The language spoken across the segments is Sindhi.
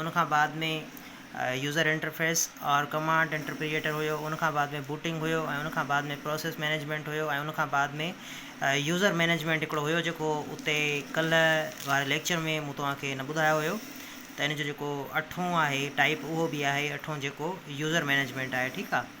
ان کان بعد ۾ يوزر انٽرفيس اور ڪمانڊ انٽرپريئيٽر هيو ان کان بعد ۾ بوٽنگ هيو ۽ ان کان بعد ۾ پروسيس مينيجمينٽ هيو ۽ ان کان بعد ۾ يوزر مينيجمينٽ هڪڙو هيو جيڪو اتي ڪلهه واري ليڪچر ۾ مون توهان کي نه ٻڌايو هيو ته ان جو جيڪو اٺون آهي ٽائيپ اهو به آهي اٺون جيڪو يوزر مينيجمينٽ آهي ٺيڪ آهي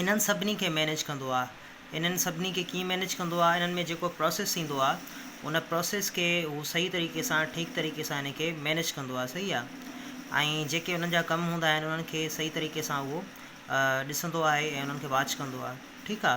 انهن سڀني کي مينيج ڪندو آ انهن سڀني کي ڪيئن مينيج ڪندو آ انهن ۾ جيڪو پروسيس ٿيندو آ ان پروسيس کي هو صحيح طريقي سان ٺيڪ طريقي سان ان کي مينيج ڪندو آ صحيح آ ۽ جيڪي انهن جا ڪم هوندا آهن انهن کي صحيح طريقي سان اهو ڏسندو آهي ۽ انهن کي واچ ڪندو آ ٺيڪ آ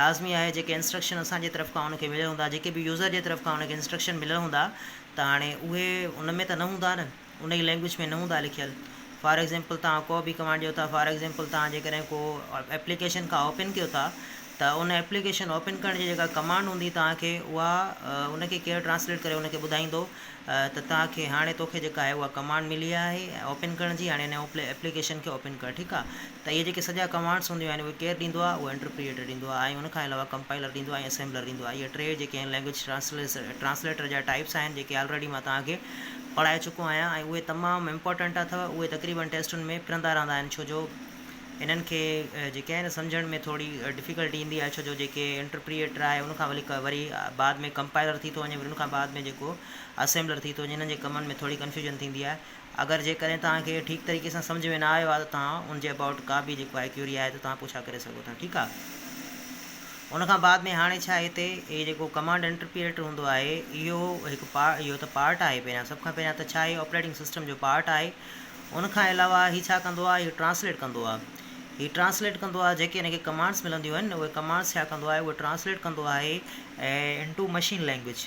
لازمي آهي جيڪي انسٽرڪشن اسان جي طرف کان ان کي مليل هوندا جيڪي به يوزر جي طرف کان ان کي انسٽرڪشن مليل هوندا ته هاڻي اهي ان ۾ ته نه هوندا نه ان جي لينگويج ۾ نه هوندا لکيل فار ايگزامپل تان ڪو به ڪمانڊ ڏيو ٿا فار ايگزامپل تان جيڪڏهن ڪو ايپليڪيشن کان اوپن ڪيو ٿا ته ان ايپليڪيشن اوپن ڪرڻ جي جيڪا ڪمانڊ هوندي تان کي اها ان کي ڪير ٽرانسليٽ ڪري ان کي ٻڌائيندو ته تان کي هاڻي توکي جيڪا آهي اها ڪمانڊ ملي آهي اوپن ڪرڻ جي هاڻي ان ايپليڪيشن کي اوپن ڪر ٺيڪ آهي ته اهي جيڪي سڄا ڪمانڊس هونديون آهن اهي ڪير ڏيندو آهي اهي انٽرپريئيٽر ڏيندو آهي ۽ ان کان علاوه ڪمپائيلر ڏيندو آهي ۽ اسيمبلر ڏيندو آهي اهي ٽي جيڪي آهن لينگويج ٽرانسليٽر جا ٽائيپس آهن جيڪي آلريڊي مان توهان کي پڙهائي چڪو آهيان ۽ اهي تمام امپارٽنٽ اٿو اهي تقريبن ٽيسٽن ۾ ڦرندا رهندا آهن ڇو جو انهن کي جيڪي آهن سمجهڻ ۾ ٿوري ڊفيڪلٽي ايندي آهي ڇو جو جيڪي انٽرپريئيٽر آهي ان کان ولي وري بعد ۾ ڪمپائيلر ٿي ٿو وڃي وري ان کان بعد ۾ جيڪو اسيمبلر ٿي ٿو وڃي انهن جي ڪمن ۾ ٿوري ڪنفيوجن ٿيندي آهي اگر جيڪڏهن توهان کي اهو ٺيڪ طريقي سان سمجهه ۾ نه آيو آهي ته توهان ان جي ابائوٽ ڪا به جيڪو آهي ڪيوري آهي ته توهان پڇا ڪري سگهو ٿا ٺيڪ آهي ان کان بعد ۾ هاڻي ڇا هتي هي جيڪو ڪمانڊ انٽرپيريٽر هوندو آهي اهو هڪ پا اهو ته پارٽ آهي پهريان سڀ کان پهريان ته ڇا هي آپريٽنگ سسٽم جو پارٽ آهي ان کان علاوه هي ڇا ڪندو آهي هي ٽرانسليٽ ڪندو آهي هي ٽرانسليٽ ڪندو آهي جيڪي هن کي ڪمانڊس ملنديون آهن اهي ڪمانڊس ڇا ڪندو آهي اهو ٽرانسليٽ ڪندو آهي into machine language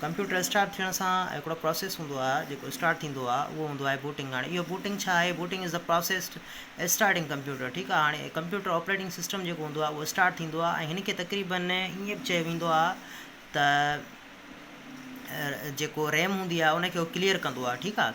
computer start ٿيڻ سان هڪڙو پروسيس هوندو آهي جيڪو اسٽارٽ ٿيندو آهي اهو هوندو آهي بوٽنگ هاڻي اهو بوٽنگ ڇا آهي booting is the process starting computer ٺيڪ آهي هاڻي ڪمپيوٽر آپريٽنگ سسٽم جيڪو هوندو آهي اهو اسٽارٽ ٿيندو آهي ۽ هن کي تقريبن ائين به چيو ويندو آهي ته جيڪو ريم هوندي آهي ان کي هو ڪليئر ڪندو آهي ٺيڪ آهي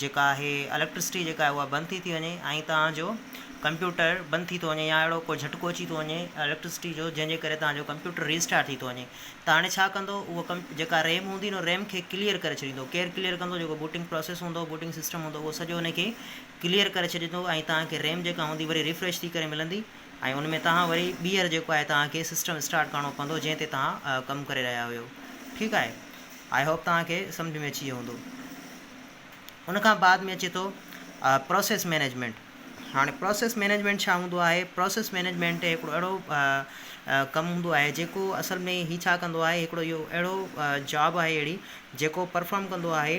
جيڪا آهي اليڪٽرسٽي جيڪا آهي اها بند ٿي ٿي وڃي ۽ توهان جو ڪمپيوٽر بند ٿي ٿو وڃي يا اهڙو ڪو جهٽڪو اچي ٿو وڃي اليڪٽرسٽي جو جنهن جي ڪري توهان جو ڪمپيوٽر ريسٽارٽ ٿي ٿو وڃي ته هاڻي ڇا ڪندو اهو ڪم جيڪا ريم هوندي نو ريم کي ڪليئر ڪري ڇڏيندو ڪير ڪليئر ڪندو جيڪو بوٽنگ پروسيس هوندو بوٽنگ سسٽم هوندو اهو سڄو ان کي ڪليئر ڪري ڇڏيندو ۽ توهان کي ريم جيڪا هوندي وري ريفريش ٿي ڪري ملندي ۽ ان ۾ توهان وري ٻيهر جيڪو آهي توهان کي سسٽم اسٽارٽ ڪرڻو پوندو جنهن تي توهان ڪم ڪري رهيا هيو ٺيڪ آهي آئي هوپ توهان کي سمجهه ۾ اچي ويو هوندو. ان کان بعد ۾ اچي ٿو پروسيس مينيجمينٽ. هاڻي پروسيس مينيجمينٽ ڇا هوندو آهي؟ پروسيس مينيجمينٽ هڪڙو اهڙو ڪم هوندو آهي جيڪو اصل ۾ هي ڇا ڪندو آهي هڪڙو اهو اهڙو جاب آهي اهڙي جيڪو پرفارم ڪندو آهي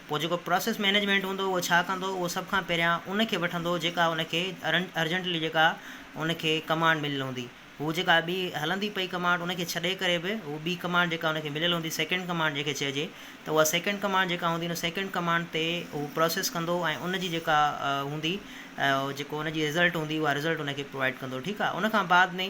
پوء جيڪو پراسيس مينيجمينٽ هوندو اهو ڇا ڪندو اهو سڀ کان پهريان ان کي وٺندو جيڪا ان کي ارجنٽلي جيڪا ان کي ڪمانڊ مليل هوندي هو جيڪا ٻي هلندي پئي ڪمانڊ ان کي ڇڏي ڪري به هو ٻي ڪمانڊ جيڪا ان کي مليل هوندي سيڪنڊ ڪمانڊ جنهن کي چئجي ته اها سيڪنڊ ڪمانڊ جيڪا هوندي ان سيڪنڊ ڪمانڊ تي هو پراسيس ڪندو ۽ ان جي جيڪا هوندي جيڪو ان جي رزلٽ هوندي اها رزلٽ ان کي پرووائيڊ ڪندو ٺيڪ آهي ان کان بعد ۾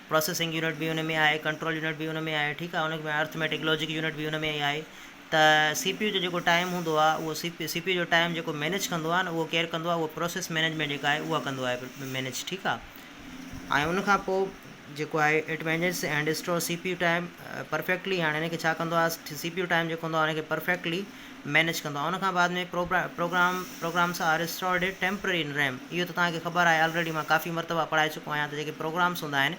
پروسيسنگ يونٽ به ان ۾ آهي، ڪنٽرول يونٽ به ان ۾ آهي ٺيڪ آهي ان ۾ ارٿميٽڪ لاجڪ يونٽ به ان ۾ ئي آهي ته سي پي يو جو جيڪو ٽائيم هوندو آهي اهو C P C P U جو ٽائيم جيڪو مينيج ڪندو آهي نه اهو ڪير ڪندو آهي اهو پروسيس مينيجمينٽ جيڪا آهي اها ڪندو آهي مينيج ٺيڪ آهي ۽ ان کان پوء جيڪو آهي it manages and store C P U time perfectly هاڻي ان کي ڇا ڪندو آهي سي پي يو ٽائيم جيڪو هوندو آهي ان کي پرفيڪٽلي مينيج ڪندو آهي ان کان بعد ۾ program programs are stored at temporary in RAM اهو ته توهان کي خبر آهي آلريڊي مان ڪافي مرتبا پڙهائي چڪو آهيان ته جيڪي پروگرامس هوندا آهن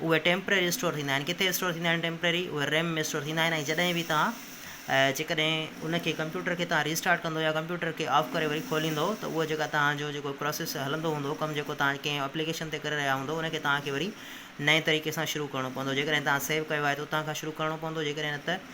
اهي ٽيمپرري اسٽور ٿيندا آهن ڪٿي اسٽور ٿيندا آهن ٽيمپرري اهي ريم ۾ اسٽور ٿيندا آهن ۽ جڏهن به توهان جيڪڏهن ان کي ڪمپيوٽر کي توهان ريسٽارٽ ڪندو يا ڪمپيوٽر کي آف ڪري وري کوليندو ته اهو جيڪا توهان جو جيڪو پروسيس هلندو هوندو ڪم جيڪو توهان ڪنهن اپليڪيشن تي ڪري رهيا هوندو ان کي توهان کي وري نئين طريقي سان شروع ڪرڻو پوندو جيڪڏهن توهان سيو ڪيو آهي ته اتان کان شروع ڪرڻو پوندو جيڪڏهن نه ته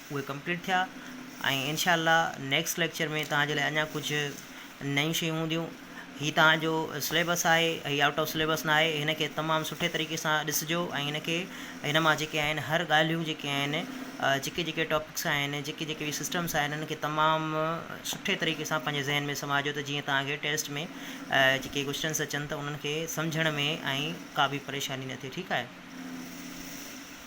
اهي ڪمپليٽ ٿيا ۽ انشاء الله نيڪسٽ ليڪچر ۾ توهان جي لاء اڃا ڪجهه نيون شيون هونديون هي توهان جو سليبس آهي هي آئوٽ آف سليبس نه آهي هن کي تمام سٺي طريقي سان ڏسجو ۽ هن کي هن مان جيڪي آهن هر ڳالهيون جيڪي آهن جيڪي جيڪي ٽاپڪس آهن جيڪي جيڪي بي سسٽمس آهن هن کي تمام سٺي طريقي سان پنهنجي ذهن ۾ سماجو ته جيئن توهان کي ٽيسٽ ۾ جيڪي ڪوشچنس اچن ته انهن کي سمجهڻ ۾ ۽ ڪا به پريشاني نه ٿئي ٺيڪ آهي